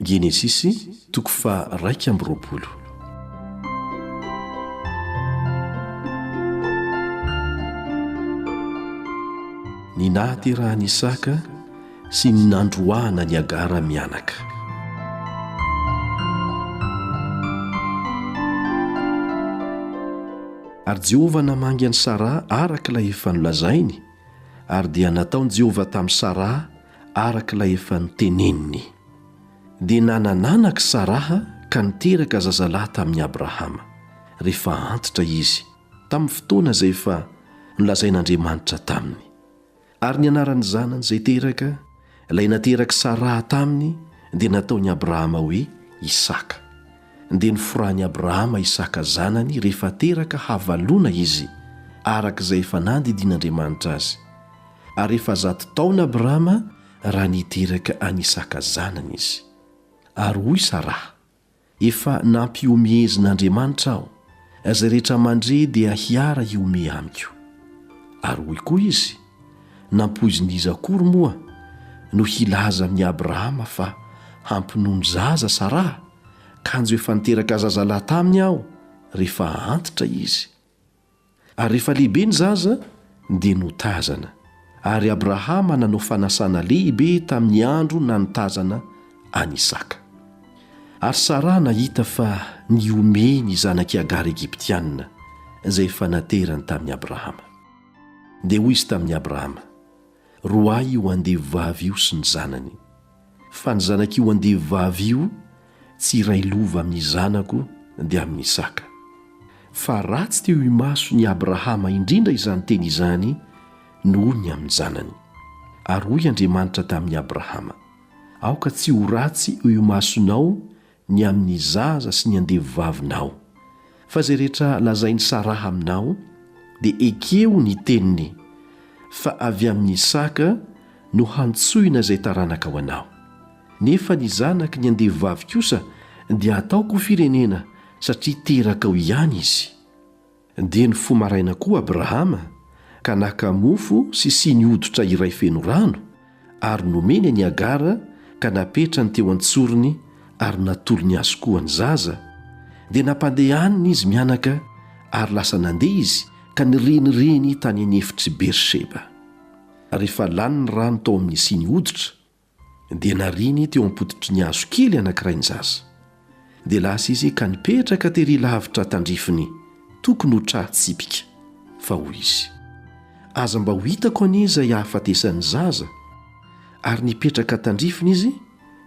Genesisy toko faha raika amby roapolo. Ny nahaterahan'i Isaka sy ny nandroahana an'i Hagara mianaka. Ary Jehovah namangy an'i Saraha araka ilay efa nolazainy, ary dia nataon'i Jehovah tamin'i Saraha araka ilay efa noteneniny. Dia nanananak'i Saraha ka niteraka zazalahy tamin'i Abrahama, rehefa antitra izy, tamin'ny fotoana izay efa nolazain'Andriamanitra taminy. Ary ny anaran'ny zanany izay teraka, ilay naterak'i Saraha taminy, dia nataon'i Abrahama hoe Isaka. Dia noforahin'i Abrahama Isaka zanany rehefa teraka havalona izy, araka izay efa nandidian'Andriamanitra azy. ary efa zato taona Abrahama raha niteraka an'i Isaka zanany izy. Ary hoy Saraha, Efa nampiomehezin'Andriamanitra aho, izay rehetra mandre dia hiara hiomehy amiko. Ary hoy koa izy, Nampoizin'iza akory moa no hilaza amin'i Abrahama fa hampinono zaza Saraha, kanjo efa niteraka zazalahy taminy aho rehefa antitra izy? Ary rehefa lehibe ny zaza, dia notazana. Ary Abrahama nanao fanasana lehibe tamin'ny andro nanotazana an'i Isaka. Ary Saraha nahita fa nihomehy ny zanak'i Hagara Egyptiana, izay efa naterany tamin'i Abrahama. Dia hoy izy tamin'i Abrahama, Roahy io andevovavy io sy ny zanany. Fa ny zanak'io andevovavy io tsy hiray lova amin'ny zanako dia amin'ny Isaka. Fa ratsy teo imason'i Abrahama indrindra izany teny izany noho ny amin'ny zanany. Ary hoy Andriamanitra tamin'i Abrahama, Aoka tsy ho ratsy eo imasonao ny amin'ny zaza sy ny andevovavinao, fa izay rehetra lazain'i Saraha aminao, dia ekeo ny teniny, fa avy amin'i Isaka no hantsoina izay taranaka ho anao. Nefa ny zanaky ny andevovavy kosa dia hataoko ho firenena, satria terakao ihany izy. Dia nifoha maraina koa Abrahama ka naka mofo sy siny hoditra iray feno rano ary nomeny an'i Hagara ka napetrany teo an-tsorony ary natolony azy koa ny zaza, dia nampandehaniny izy mianaka ary lasa nandeha izy ka nirenireny tany an'efitr'i Beersheba. Rehefa lany ny rano tao amin'ny siny hoditra Dia nariany teo am-pototry ny hazo kely anankiray ny zaza. Dia lasa izy ka nipetraka tery lavitra tandrifiny, tokony ho tra tsipika. Fa hoy izy, Aza mba ho hitako anie izay hahafatesan'ny zaza. Ary nipetraka tandrifiny izy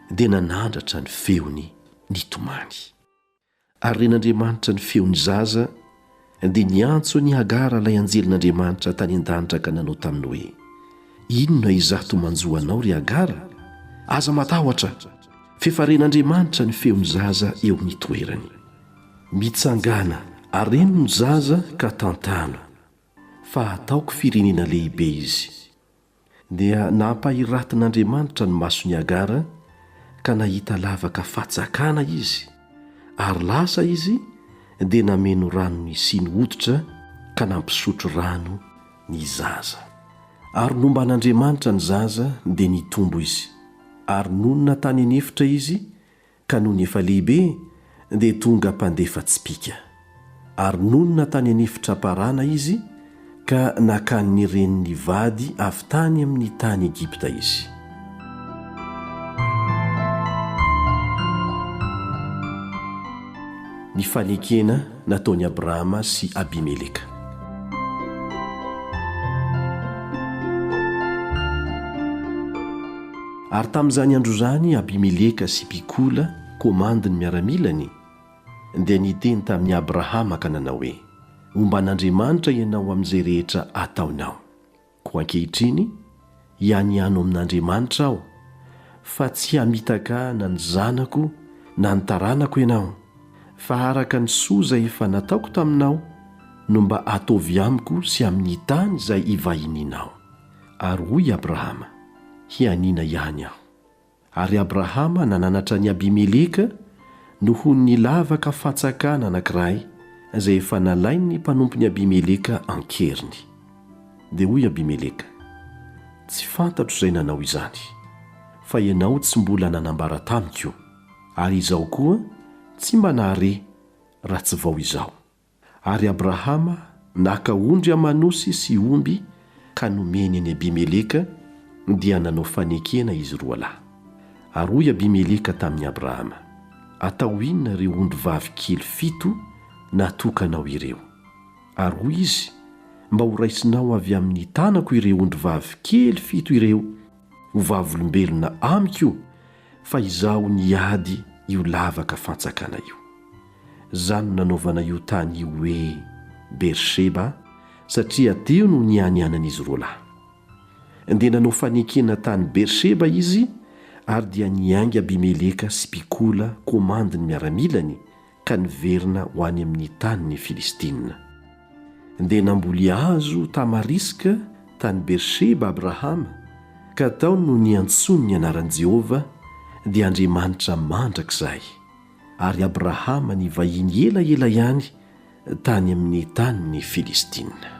dia nanandratra ny feony nitomany. Ary ren'Andriamanitra ny feon'ny zaza, dia niantso an'i Hagara ilay anjelin'Andriamanitra tany an-danitra ka nanao taminy hoe, Inona izato manjo anao, ry Hagara? Aza matahotra, f'efa ren'Andriamanitra ny feon'ny zaza eo amin'ny toerany. Mitsangàna ary reno ny zaza ka tantano, fa hataoko firenena lehibe izy. Dia nampahiratin'Andriamanitra ny mason'i Hagara ka nahita lavaka fatsakana izy, ary lasa izy dia nameno rano nisiny hoditra ka nampisotro rano ny zaza. Ary nomban'Andriamanitra ny zaza dia nitombo izy, ary nonina tany an'efitra izy Ka nony efa lehibe dia tonga mpandefa tsipìka. Ary nonina tany an'efitra Parana izy ka nakan' ny reniny vady avy tany amin' ny tany Egypta izy. Ny fanekena nataon' Abrahama sy Abimeleka. Ary tamin'izany andro izany Abimeleka sy Pikola, komandin'ny miaramilany, dia niteny tamin'i Abrahama ka nanao hoe, Omban'Andriamanitra ianao amin'izay rehetra ataonao. Koa ankehitriny, hianiano amin'Andriamanitra aho, fa tsy hamitaka na ny zanako na ny taranako ianao, fa araka ny soa izay efa nataoko taminao no mba ataovy amiko sy amin'ny tany izay ivahinianao. Ary hoy Abrahama, Hianiana ihany aho. Ary Abrahama nananatra an'i Abimeleka noho ny lavaka fatsakana anankiray izay efa nalain'ny mpanompon'i Abimeleka an-keriny. Dia hoy Abimeleka, Tsy fantatro izay nanao izany, fa ianao tsy mbola nanambara tamiko, ary izaho koa tsy mba nahare raha tsy vao izao. Ary Abrahama naka ondry aman'osy sy omby ka nomeny an'i Abimeleka, dia nanao fanekena izy roa lahy. Ary hoy Abimeleka tamin'i Abrahama, Atao inona ireo ondry vavy kely fito natokanao ireo? Ary hoy izy, Mba horaisinao avy amin'ny tanako ireo ondry vavy kely fito ireo ho vavolombelona amiko Fa izaho niady io lavaka fantsakana io. Zany no nanaovana io tany io hoe Beersheba satria teo no nianianan'izy roalahy. Dia nanao fanekena tany Beersheba izy ary dia niainga Abimeleka sy Pikola komandin'ny miaramilany ka niverina ho any amin'ny tany ny Filistina. Dia namboly hazo tamariska tany Beersheba Abrahama, ka tao no niantsoany ny anaran'i Jehovah, dia Andriamanitra mandrakizay. Ary Abrahama nivahiny elaela ihany tany amin'ny tany ny Filistina.